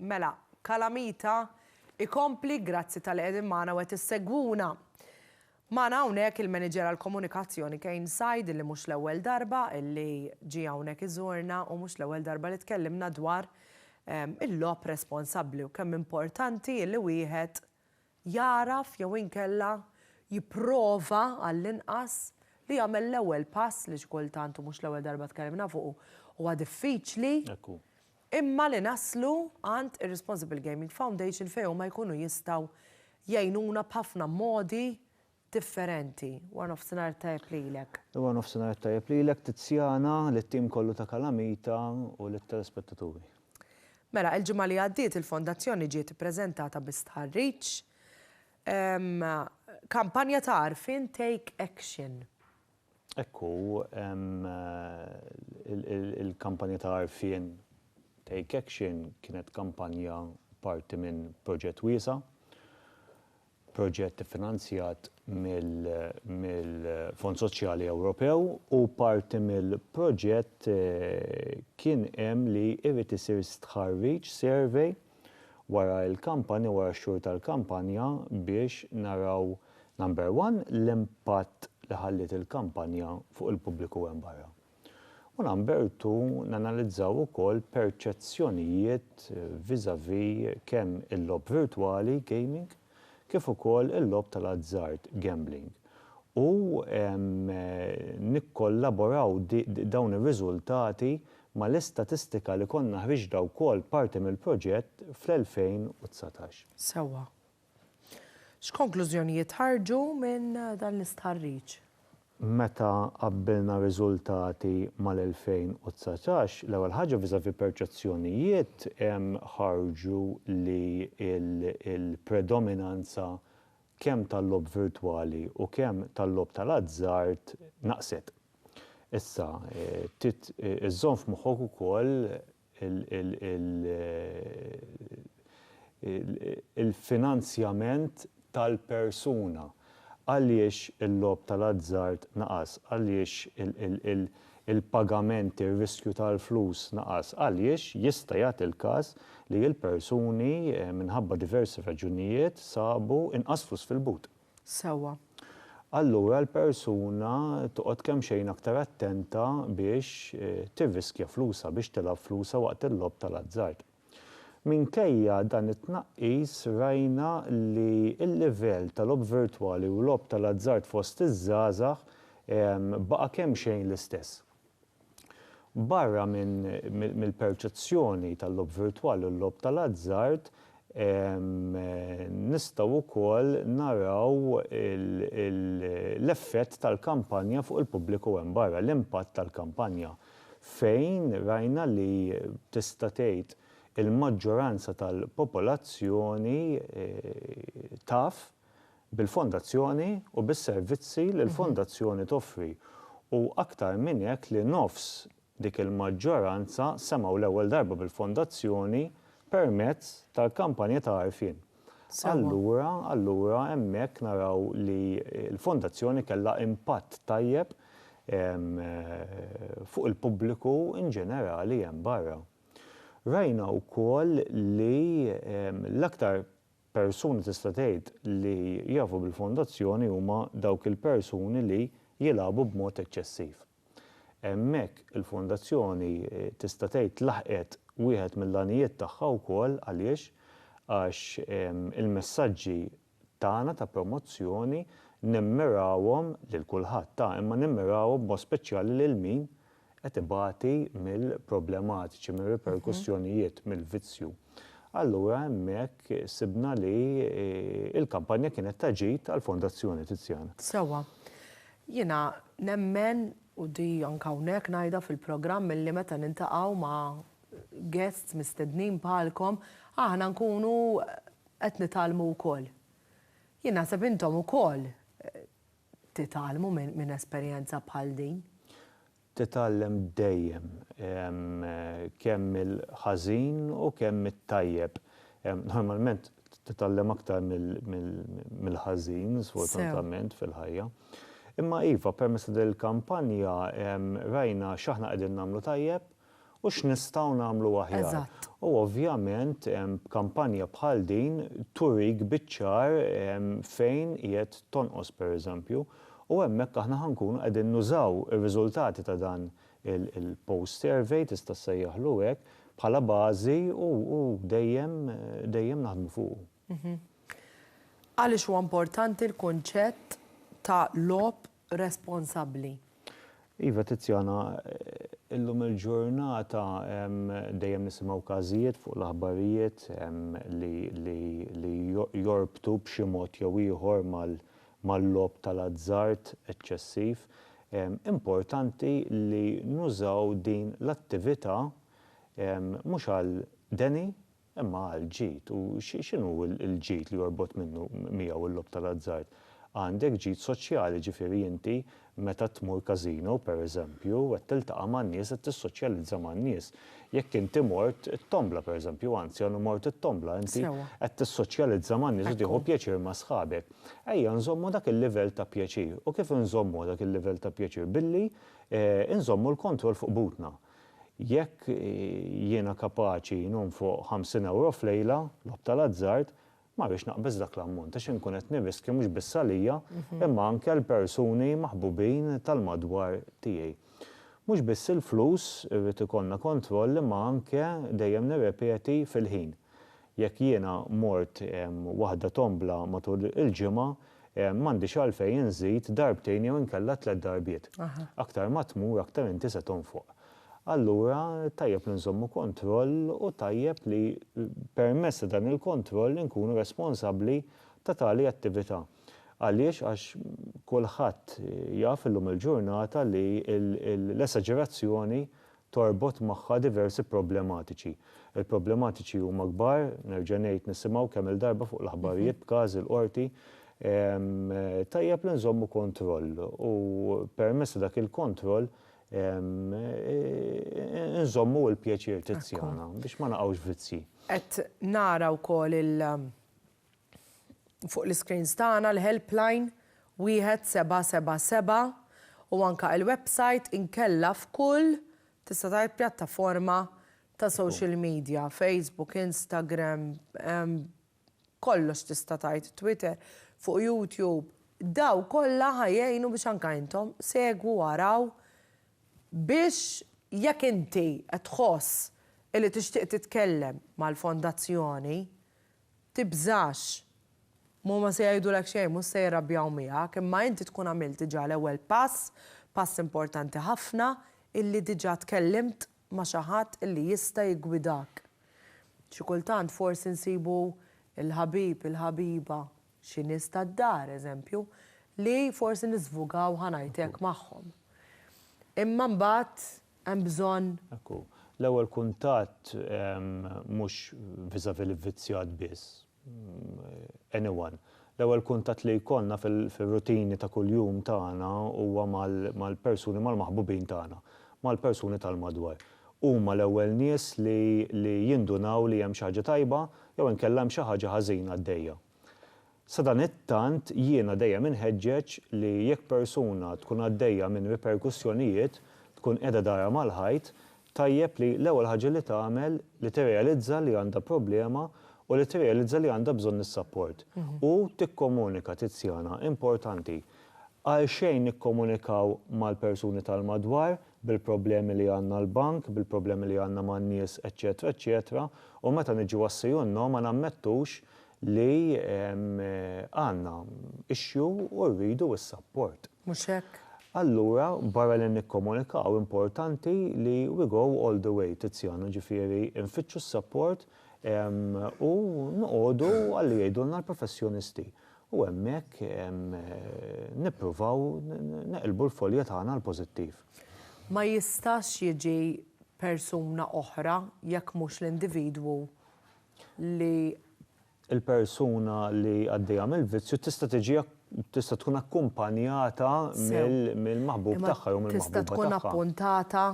Mela, Calamita, ikompli, grazzi talli qegħdin magħna u qed issegwuna. Magħna hawnhekk il-Maniġer għall-Komunikazzjoni Kane Said illi mhux l-ewwel darba illi ġie hawnhekk iżurna u mhux l-ewwel darba li tkellimna dwar il-logħob responsabbli u kemm importanti illi wieħed jagħraf jew inkella jipprova għall-inqas li jagħmel l-ewwel pass li xi kultant, u mhux l-ewwel darba tkellimna fuqu, huwa diffiċli, imma li naslu għand ir-Responsible Gaming Foundation fejn huma jkunu jistgħu jgħinuna b'ħafna modi differenti. Warnofsinhar it-tajjeb lilek. Warnofsinhar it-tajjeb lilek Tiziana, lit-tim kollu ta' Kalamita u lit-telespettaturi. Mela, il-ġimgħa li għaddiet il-Fondazzjoni ġiet ippreżentata bi stħarriġ Kampanja ta' Għarfien Take Action. Hekk hu, il-Kampanja ta' Għarfien Take Action kienet kampanja parti minn proġett wiesa' proġett iffinanzjat mill-Fond Soċjali Ewropew u parti mill-proġett kien hemm li jrid isir stħarriġ, survey, wara l-kampanja, wara x-xhur tal-kampanja biex naraw, number one, l-impatt li ħalliet il-kampanja fuq il-pubbliku hemm barra. U Lambertu nanalizzaw ukoll perċezzjonijiet vis-à-vis kemm il-logħob virtwali, gaming, kif ukoll il-logħob tal-azzard, gambling, u nikkollaboraw dawn ir-riżultati mal-istatistika li konna ħriġna wkoll parti mill-proġett fl-2019. Sewwa. X'konklużjonijiet ħarġu minn dan l-istħarriġ? Meta qabbilna r-riżultati mal-2019, l-ewwel ħaġa vis-à-vis perċezzjonijiet ħarġu li l-predominanza kemm tal-logħob virtwali u kemm tal-logħob tal-azzard naqset. Issa, trid iżżomm f'moħħok ukoll il-finanzjament tal-persuna. Għaliex il-logħob tal-azzard naqas? Għaliex il-pagament, ir-riskju tal-flus naqas? Għaliex jista' jagħti l-każ li l-persuni minħabba diversi raġunijiet sabu inqas flus fil-but. sewwa. Allura l-persuna toqgħod kemxejn aktar attenta biex tirriskja flusha, biex tilgħab flusha waqt il-logħob tal-azzard. Minkejja dan it-tnaqqis rajna li l-livell ta' logħob virtwali u logħob tal-azzard fost iż-żgħażagħ baqa' kemxejn l-istess. Barra mill-perċezzjoni tal-logħob virtwali u l-logħob tal-azzard, nistgħu wkoll naraw l-effett tal-kampanja fuq il-pubbliku hemm barra, l-impatt tal-kampanja, fejn rajna li tista' tgħid il-maġġoranza tal-popolazzjoni taf, bil-Fondazzjoni u bis-servizzi li l-Fondazzjoni toffri u aktar minn hekk li nofs dik il-maġġoranza semgħu l-ewwel darba bil-Fondazzjoni permezz tal-kampanja ta' għarfien. Allura, allura hemmhekk naraw li l-Fondazzjoni kellha impatt tajjeb fuq il-pubbliku in ġenerali hemm barra. Rajna wkoll li l-aktar Persuni tista' tgħid li jafu bil-Fondazzjoni huma dawk il-persuni li jilagħbu b'mod eċċessiv. Hemmhekk il-Fondazzjoni tista' tgħid laħqet wieħed mill-għanijiet tagħha wkoll għaliex? Għax il-messaġġi tagħna ta' promozzjoni nimmirawhom lil kulħadd, ta' imma nimmirawhom b'mod speċjali lil min? qed ibati mill-problematiċi, mir-riperkussjonijiet, mill-vizzju. Allura hemmhekk sibna li l-kampanja kienet ta' ġid għall-Fondazzjoni Tiziana. Sewwa. Jiena nemmen, u di anke hawnhekk ngħidha fil-programm illi meta niltaqgħu ma' guests mistednin bħalkom, aħna nkunu qed nitgħallmu wkoll. Jien naħseb intom ukoll Titgħallmu minn esperjenza bħal din? Titgħallem dejjem, kemm mill-ħażin u kemm mit-tajjeb. Normalment titgħallem aktar mill-ħażin, sfortunatament, fil-ħajja. Imma iva, permezz ta' din il-kampanja rajna x'aħna qegħdin nagħmlu tajjeb u x'nistgħu nagħmlu aħjar. U ovvjament kampanja bħal din turik biċ-ċar fejn qiegħed tonqos pereżempju u hemmhekk aħna ħa nkunu qegħdin nużaw ir-riżultati ta' dan il-post survey, tista' ssejjaħlu hekk, bħala bażi u dejjem dejjem naħdmu fuqu. Għaliex huwa importanti l-kunċett ta' logħob responsabbli. Iva Tiziana, illum il-ġurnata dejjem nisimgħu każijiet fuq l-aħbarijiet li jorbtu b'xi mod jew ieħor mal-logħob tal-azzard eċċessiv. Importanti li nużaw din l-attività mhux għal deni Imma għal ġid, u x'inhu l-ġid li jorbot minnu miegħu l-logħob tal-azzard? Għandek ġid soċjali, jiġifieri inti meta tmur każino, pereżempju, qed tiltaqa' man-nies, qed tissoċjalizza man-nies. Jekk inti mort it-tombla, pereżempju, anzi għandu mort it-tombla, inti qed tissoċjalizza man-nies u tieħu pjaċir ma' sħabek. Ejja nżommu dak il-livell ta' pjaċir. U kif inżommuh dak il-livell ta' pjaċir? Billi inżommu l-kontroll fuq butna. Jekk jiena kapaċi nonfoq ħamsin ewro f'lejla, logħob tal-azzard, ma rridx naqbeż dak l-ammont għax inkun qed nirriskja mhux biss għalija imma anke għal persuni maħbubin tal-madwar tiegħi. Mhux biss il-flus irrid ikollna kontroll imma anke dejjem nirrepeti fil-ħin. Jekk jiena mort waħda tombla matul il-ġimgħa, m'għandix għalfejn inżid darbtejn jew inkella tliet darbiet. Aktar ma tmur aktar inti se tonfoq. Allura tajjeb li nżommu kontroll u tajjeb li permezz ta' dan il-kontroll inkunu responsabbli ta' tali attività. Għaliex? Għax kulħadd jaf illum il-ġurnata li l-esaġerazzjoni torbot magħha diversi problematiċi. Il-problematiċi huma kbar, nerġa' ngħid nisimgħu kemm-il darba fuq l-aħbarijiet b'każi l-Qorti, tajjeb li nżommu kontroll u permezz ta' dak il-kontroll inżommu l-pjaċir tizzjana biex ma naqgħux vizzji. Qed nara wkoll Fuq l-iscreens tagħna l-helpline 1777 u anke il-website inkella f'kull tista' tgħid pjattaforma ta' social media, Facebook, Instagram, kollox tista' tgħid, Twitter, fuq YouTube. Dawn kollha ħa jgħinu biex anke intom segwu u araw biex jekk inti qed tħoss illi tixtieq titkellem mal-Fondazzjoni Tibżax! Huma ma se jgħidulek xejn, mhux se jirrabjaw miegħek, imma inti tkun għamilt diġà l-ewwel pass, pass importanti ħafna, illi diġà tkellimt ma' xi ħadd illi jista' jiggwidak. Xi kultant forsi nsibu l-ħabib, il-ħabiba, xi nies tad-dar, eżempju, li forsi niżvugaw, ħa ngħid hekk, magħhom. Imma mbagħad hemm bżonn. Hekk hu. L-ewwel kuntatt mhux vis-à-vis l-ivvizzjat biss, anyone. L-ewwel kuntatt li jkollna fir-rutini ta' kuljum tagħna huwa mal-persuni, mal-maħbubin tagħna, mal-persuni tal-madwar. Huma l-ewwel nies li jindunaw li hemm xi ħaġa tajba jew inkella hemm xi ħaġa ħażina għaddejja. Sadanittant jiena dejjem inħeġġeġ li jekk persuna tkun għaddejja minn riperkussjonijiet, tkun qiegħda darha mal-ħajt, tajjeb li l-ewwel ħaġa li tagħmel li tirrealizza li għandha problema u li tirrealizza li għandha bżonn is-sapport. U tikkomunika, Tiziana, importanti. Għalxejn nikkomunikaw mal-persuni tal-madwar bil-problemi li għandna l-bank, bil-problemi li għandna man-nies eċċetera eċċetera u meta niġu għas-CUNO ma nammettux li għandna issue u rridu s-sapport. Mhux hekk? Allura barra li nikkomunikaw importanti li we go all the way, Tiziano, ġifieri nfittxu s-sapport u noqogħdu għalli jgħidulna l-professjonisti. u hemmhekk nippruvaw neqilbu l-folja tagħna għall-pożittiv. Ma jistax jiġi persuna oħra jekk mhux l-individwu li. Il-persuna li għaddejja mill-vizzju tista' tiġi tista' tkun akkumpanjata mill-maħbub tagħha jew mill-maħbuba tagħha. Sew, imma tista' tkun appuntata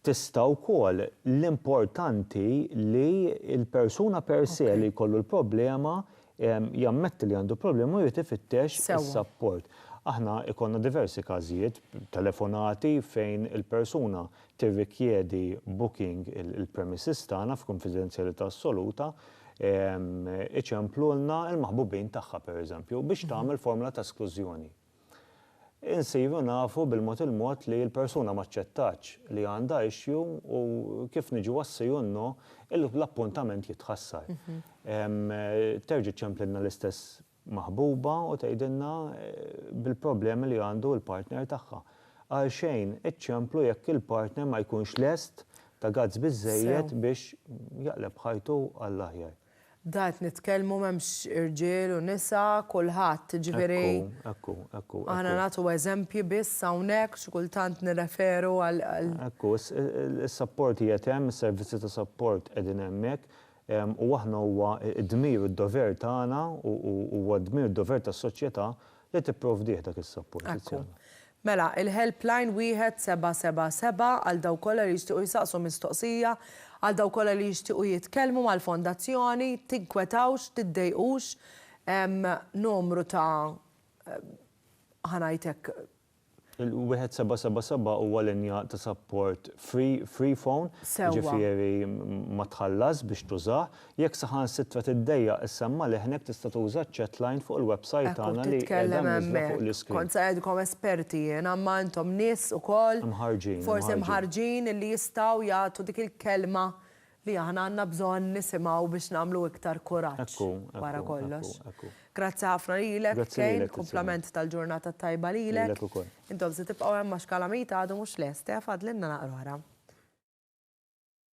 tista' wkoll l-importanti li l-persuna per se li jkollu l-problema jammetti li għandu problema u jrid ifittex is-sapport. Aħna jkollna diversi każijiet, telefonati fejn il-persuna tirrikjedi booking il-premises tagħna f'kunfidenzjalità assoluta, iċemplulna l-maħbubin tagħha per eżempju biex tagħmel formola ta' esklużjoni. Insiru nafu bil-mod il-mod li l-persuna m'aċċettatx li għandha issue u kif niġu għas-si u n-no, l-appuntament jitħassar. Terġi' ċċemplilna l-istess maħbuba u tgħidilna bil-problemi li għandu l-partner tagħha. Għalxejn iċċemplu jekk il-partner ma jkunx lest ta' guts biżżejjed biex jaqleb ħajtu għall-aħjar. Da qed nitkellmu m'hemmx irġiel u nisa, kulħadd, jiġifieri. Ekku, ekku, ekku. Aħna nagħtu eżempji biss hawnhekk, xi kultant nirreferu għal. Ekku, is-sapport qiegħed hemm, is-servizzi ta' sapport qegħdin hemmhekk, u aħna huwa d-dmir u d-dover tagħna u huwa d-dmir u d-dover tas-soċjetà li tipprovdih dak is-sapport. Ekku. Mela, il-helpline wieħed seba' seba' seba' għal dawk kollha li jixtiequ jsaqsu mistoqsija, għal dawk kollha li jixtiequ jitkellmu mal-Fondazzjoni, tinkwetawx, tiddejqux, hemm numru ta' ħa ngħid hekk. Il-wieħed seba' seba' seba' huwa linja ta' sapport free, free phone, jiġifieri ma tħallasx biex tużah, Jekk saħansitra tiddejjaq issemma' leħnek tista' tuża ċ-chat line fuq il-websajt Ekku tagħna li qiegħda titkellem mniżżla fuq hemmhekk. l-iscreen. Kont se ngħidilkom esperti jiena imma intom nies ukoll Imħarrġin, forsi imħarrġin. mħarrġin illi jistgħu jagħtu dik il-kelma li aħna għandna bżonn nisimgħu biex nagħmlu iktar kuraġġ Ekku, wara ekku, kollox. ekku, ekku. Grazzi ħafna lilek, Grazzi Kane, lilek, Tiziana. kumplament tal-ġurnata t-tajba lilek. Lilek ukoll. Intom se tibqgħu hemm għax Kalamita għadu mhux lest, eh, fadlilna naqra oħra.